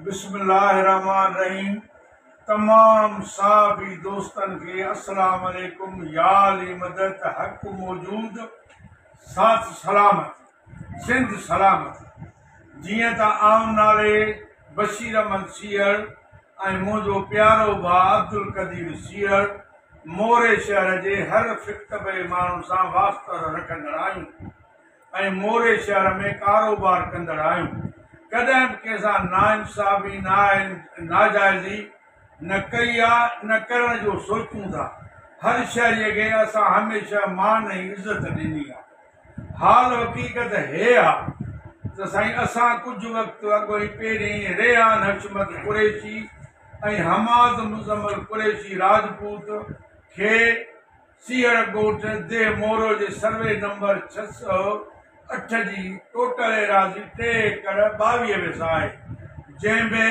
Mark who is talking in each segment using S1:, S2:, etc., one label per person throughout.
S1: بسم الله الرحمن الرحيم تمام صحابي دوستن کي السلام عليڪم يا علي مدد حق موجود سات سلامت سنڌ سلامت جيئن ته آئون نالي بشير احمد سيئڙ ۽ منهنجو پيارو ڀاء عبدالقدير سيئڙ موري شهر جي هر فڪتبئي ماڻهو سان واسطر رکندڙ آهيون ۽ موري شهر ۾ ڪاروبار ڪندڙ آهيون ڪڏهن به ڪنهن سان ناانصافي ناجائزي نه ڪئي آ نه ڪرڻ جو سوچون ٿا هر شهري کي اسان هميشه مان ۽ عزت ڏني آ حال حقيقت هيء آ ته سائين اسان ڪجهه وقت اڳ ۽ پهرين ريحان حشمت قريشي ۽ حماد مزمل قريشي راجپوت کي سيهڙ ڳوٺ ديهه مورو جي سروي نمبر ڇهه سؤ اٺ جي ٽوٽل ايراضي ٽي ايڪڙ ٻاويهه ويسا آهي جنهن ۾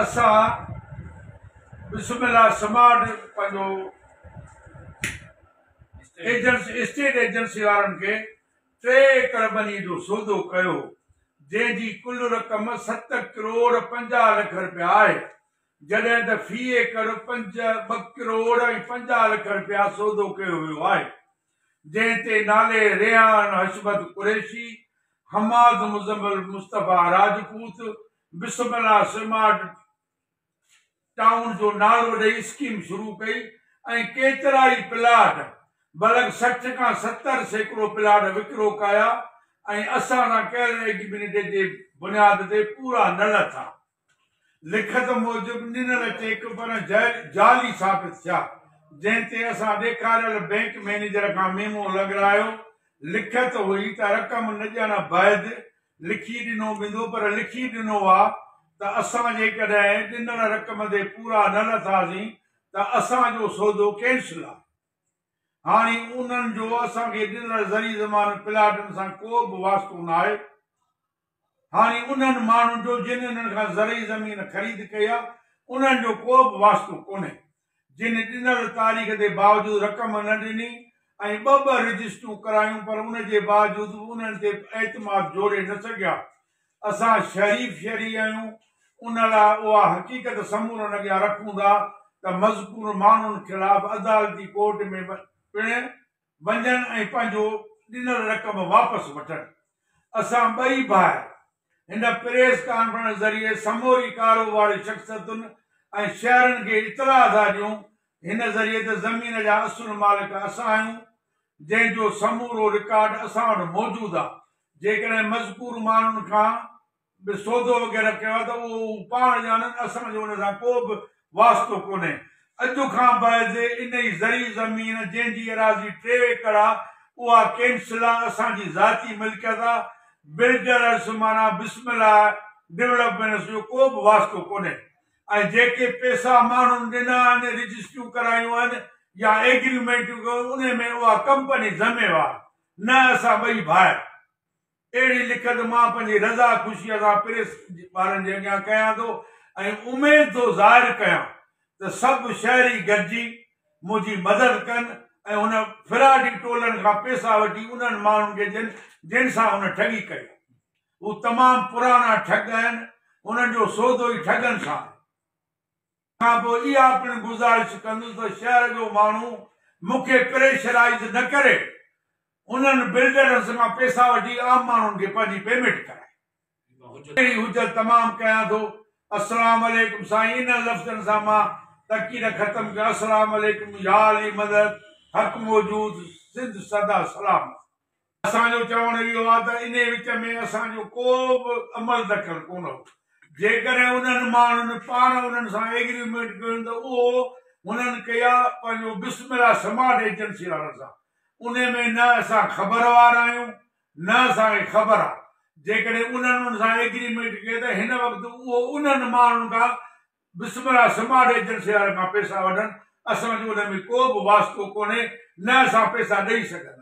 S1: اسان بسم الله سمارٽ پنهنجو ايجنٽس اسٽيٽ ايجنسي وارن کي ٽي ايڪڙ ٻني جو سودو ڪيو هو، جنهن جي ڪل رقم ست ڪروڙ پنجاهه لک رپيا آهي، جڏهن ته في ايڪڙ پنج ٻه ڪروڙ ۽ پنجاهه لک رپيا سودو ڪيو ويو آهي، جنهن تي نالي ريحان حشمت Qureshi, Hammad Muzammil Mustafa Rajput, Bismillah smart town جو نعرو ڏئي اسڪيم شروع ڪئي ۽ ڪيترائي پلاٽ بلڪ سٺ کان ستر سيڪڙو پلاٽ وڪرو ڪيا ۽ اسان سان ڪيل ايگريمينٽ جي بنياد تي پورا نه لٿا. لکت موجب ڏنل چيڪ پڻ جعلي ثابت ٿيا، جنهن تي اسان ڏيکاريل بئنڪ مئنيجر کان ميمو لڳرايو، لکت هئي ته رقم نه ڏيڻ بعد لکي ڏنو ويندو پر لکي ڏنو آ ته اسان جيڪڏهن ڏنل رقم تي پورا نه لٿاسين ته اسان جو سودو ڪينسل آ هاڻي انهن جو اسان کي ڏنل زرعي زمان پلاٽن سان ڪو به واسطو ناهي هاڻي انهن ماڻهن جو جن انهن کان زرعي زمين خريد ڪئي آ انهن جو ڪو به واسطو ڪونهي. جنھن ڏنل تاريخ جي باوجود رقم نه ڏني ۽ ٻه ٻه رجسٽرون ڪرايون پر ان جي باوجود به انھن تي اعتماد جوڙي نه سگھيا. اسان شريف شھري آھيون ان لاء اھا حقيقت سمورن اڳيان رکون ٿا ته مذڪور ماڻھن خلاف عدالتي ڪورٽ ۾ پڻ وڃن ۽ پنھنجو ڏنل رقم واپس وٺن. اسان ٻئي ڀائر هن پريس ڪانفرنس ذريعي سموري ڪاروباري شخصيتن ۽ شهرين کي اطلاع ٿا ڏيون، هن ذريعي ته زمين جا اصل مالڪ اسان آهيون، جنهن جو سمورو رڪارڊ اسان وٽ موجود آ، جيڪڏهن مذڪور ماڻهن کان به سودو وغيره ڪيو آ ته اهو هو پاڻ ڄاڻن، اسان جو ان سان ڪو به واسطو ڪونهي. اڄ کان بعد انهي زرعي زمين جنهن جي ايراضي ٽي ايڪڙ آ اها ڪينسلا اسان جي ذاتي ملڪيت آ. بلڊرز معنيٰ بسم الله ڊولپمينس جو ڪو به واسطو ڪونهي ۽ جيڪي پيسا ماڻهن ڏنا آهن رجسٽريون ڪرايون آهن يا ايگريمينٽون ڪيون انهي ۾ اها ڪمپني ذميوار نه اسان ٻئي ڀائر اهڙي لکت مان پنهنجي رضا خوشيء سان پريس وارن جي اڳيان ڪيان ٿو ۽ اميد ٿو ظاهر ڪيان ته سڀ شهري گڏجي منهنجي مدد ڪن ۽ هن فراڊي ٽولن کان پيسا وٺي انهن ماڻهن کي ڏين جن سان هن ٺڳي ڪئي آهي. هو تمام پراڻا ٺڳ آهن. هنن جو سودو ئي ٺڳن سان آهي. کان پوء اها پڻ گذارش ڪندس ته شهر جو ماڻهو مون کي پريشرائيز نه ڪري انهن بلڊرن سان پيسا وٺي عام ماڻهن کي پنهنجي پيميٽ ڪرائي. اهڙي حجت تمام ڪيان ٿو. السلام عليڪم سائين انهن لفظن سان مان تقرير ختم ڪيان السلام عليڪم يا علي مدد حق موجود سنڌ سدا سلامت. اسان جو چوڻ اهو آهي ته انهي وچ ۾ اسان جو ڪو به عمل دخل ڪونه هو، جيڪڏهن انهن ماڻهن پاڻ انهن سان ايگريمينٽ ڪيو هن ته اهو هنن ڪئي آهي پنهنجو بسم الله سمارٽ ايجنسي وارن سان، انهي ۾ نه اسان خبروار آهيون نه اسان کي خبر آهي، جيڪڏهن انهن ان سان ايگريمينٽ ڪئي ته هن وقت اهو انهن ماڻهن کان بسم الله سمارٽ ايجنسي وارن کان پيسا وٺن اسان جو ان ۾ ڪو به واسطو ڪونهي نه اسان پيسا ڏئي سگهنداسين.